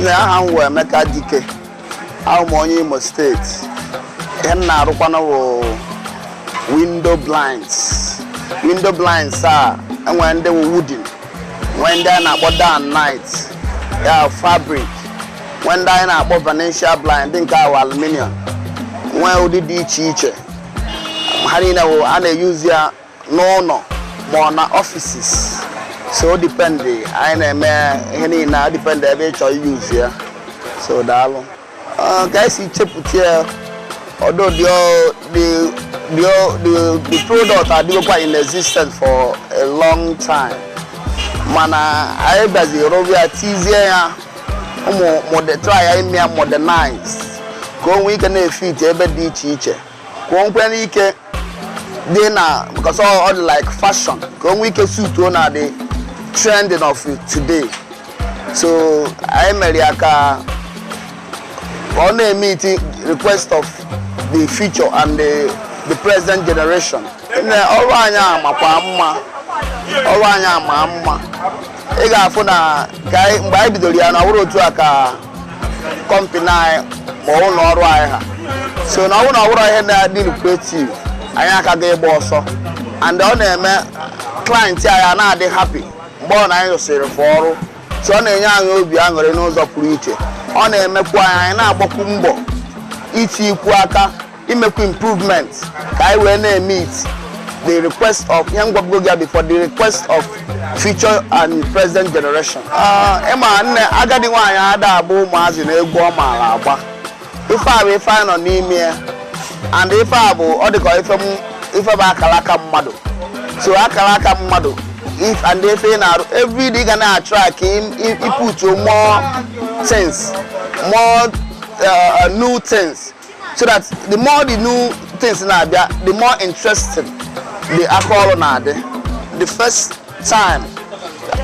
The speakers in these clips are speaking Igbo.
nne aha m wụ Emeka Dike awụ m onye Imo State ihe m na-arụkwanụ wụ window blinds window blinds a e nwere ndị wụ wooden nwee ndị a na-akpọ day and night ya fabric nwee ndị anyị na-akpọ Venetian blind nke a wụ aluminium nwee ụdị dị iche iche ha niile wụ a na-eyuzi ya n'ụlọ ma ọ na offices so ọ depend anyị na-eme ihe niile ọ depend ebe ị chọọ iyuzi ya so daalụ ka anyị si chepụta ya although the, the, the product adịgokwa in existence for a long time mana anyị bịaziri bịa tizie ya um mode- try ime ya modernize ka o nwee ike na-efit ebe dị iche iche ka o nwee ike dị na because ọ ọ dị like fashion ka o nwee ike suit na the trending of today so anyị mere ya ka ọ na-emeet request of the future and the, the present generation nne ọrụ anyị a makwa mma ọrụ anyị a ma mma ị ga-afụ na ka anyị- mgbe anyị bidoro ya na ọhụrụ otu a ka company anyị ma ụlọ ọrụ anyị ha so na ọ wụ na ọ wụrụ ihe na-adị lucrative anyị aka ga ịgba ọsọ and ọ na-eme client anyị a na-adị happy mgbe ọ na anyị rụsịrị fa ọrụ so ọ na-enye anyị obi aṅụrị n'ụzọ pụrụ iche ọ na-emekwu anyị anyị na-agbakwu mbọ itiikwu aka imekwu improvement ka anyị wee na-emeet the request of ihe m gwabugo gị before the request of future and present generation Ah, ị ma nne agadi nwaanyị ada abụ ụmụazị na egwu ọ maara agba ife a bụ ife anyị nọ n'ime ya and ife a bụ ọ dịka ife m ife bụ akara aka mmadụ so akara aka mmadụ if and ife ị na-arụ every day ị ga na-atry ka ị putuo more things more uh, new things so that the more the new things na-abịa the more interesting the aka ọrụ na-adị the first time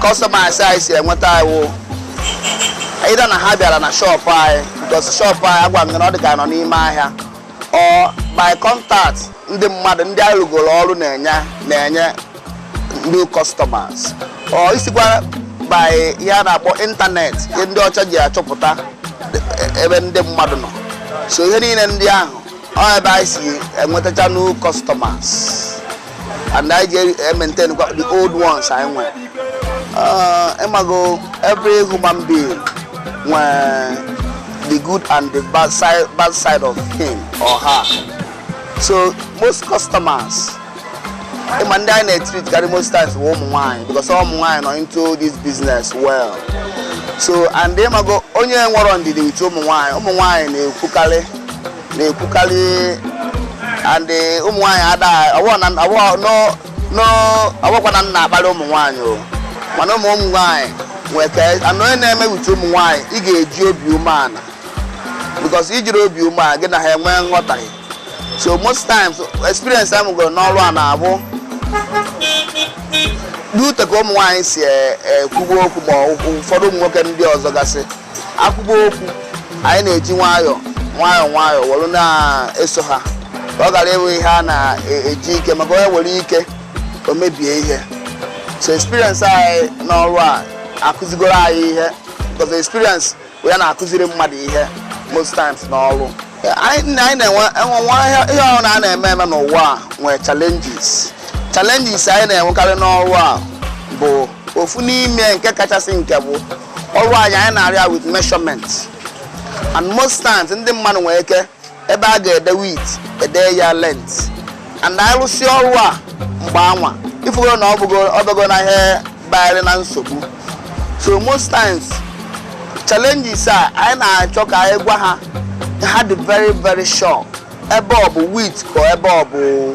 customers anyị si enweta wụ either na ha bịara na shop anyị because shop anyị agwa m gị na ọ dị ka nọ n'ime ahịa or by contact ndị mmadụ ndị anyị rụgoro ọrụ na-enye na-enye new customers or isikwa by ihe a na-akpọ internet ihe ndị ọcha ji achọpụta e- ebe ndị mmadụ nọ so ihe niile ndị ahụ ọ ebe anyị si enwetacha new customers and anyị ji maintain kwa the old ones anyị nwere Ah, ịmago every human being nwere the good and the bad side, bad side of him or her so most customers ịma ndị anyị na-etreat karị most times bụ ụmụ nwaanyị because ụmụ nwaanyị nọ into this business well so and ịmago onye nwerọ ndidi with ụmụ nwaanyị ụmụ nwaanyị na-ekwukarị na-ekwukarị and ụmụ nwaanyị adaghị ọwụkwa na m na-akparị ụmụ nwaanyị o mana ụmụ ụmụ nwaanyị nwee ka anụ onye na-eme with ụmụ nwaanyị ị ga-eji obi umeala because ijirọ obi umeala gị na ha enwee nghọtahie so most times experience m nwegoro n'ọrụ a na-abụ due to ka ụmụ nwaanyị si e- ekwubu okwu ma ọ- ụfọdụ ụmụ nwoke ndị ọzọ gasị ekwubu okwu anyị na-eji nwayọọ nwayọọ nwayọọ were na-eso ha ka ọ ghara ịbụ ihe a na-eji ike maka onye were ike o mebie ihe so experience anyị n'ọrụ a akụzigoro anyị ihe because experience ya na-akụziri mmadụ ihe most times n'ọrụ anyị na-enwe nwa ihe ọwụna a na-eme eme n'ụwa a nwee challenges challenges anyị na-enwekarị n'ọrụ a bụ ofu n'ime nke kachasị nke bụ ọrụ anyị anyị na-arụ ya with measurement and most times ndị mmadụ nwere ike ebe a ga-ede width ede ya length and anyị rụsị ọrụ a mgbe anwa ifugoro na ọ bụgo na ihe bayarị na nsogbu so most times challenges a anyị na-achọ ka anyị gwa ha ha dị very very sure ebe ọ bụ width ka ebe ọ bụ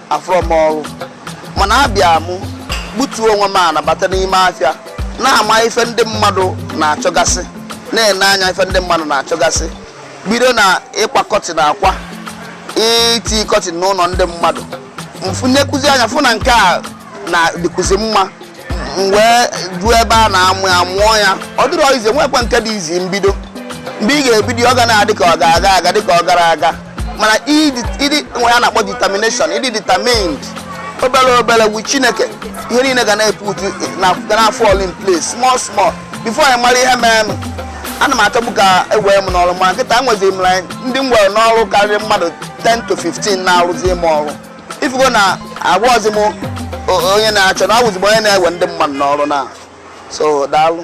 afụrọ m ọrụ mana abịa m gbutuo onwe m ana bata n'ime afịa na-ama ife ndị mmadụ na-achọgasị na-ene anya ife ndị mmadụ na-achọgasị bido na ịkwa curtain akwa iti curtain n'ụnọ ndị mmadụ m fụnyekwuzi anya fụ na nke a na-adịkwuzi mma m wee ruo ebe a na-amụ ya mụọ ya ọ dịrọ easy nwekwa nke dị easy mbido mgbe ị ga-ebido ọ ga na-adị ka ọ ga-aga aga dị ka ọ gara aga mana ịdị ịdị nwe ihe a na-akpọ determination ịdị determined obere obere with chineke ihe niile ga na-eput na ga na-fall in place small small before ị mara ihe merenụ ana m achọbu ka e wee m n'ọrụ mana kịta nwezi m ndị m were n'ọrụ karịrị mmadụ 10 to 15 na-arụzi m ọrụ ifugo na abụrọzi m onye na-achọ na awụzi m onye na-ewe ndị mmadụ n'ọrụ na so daalụ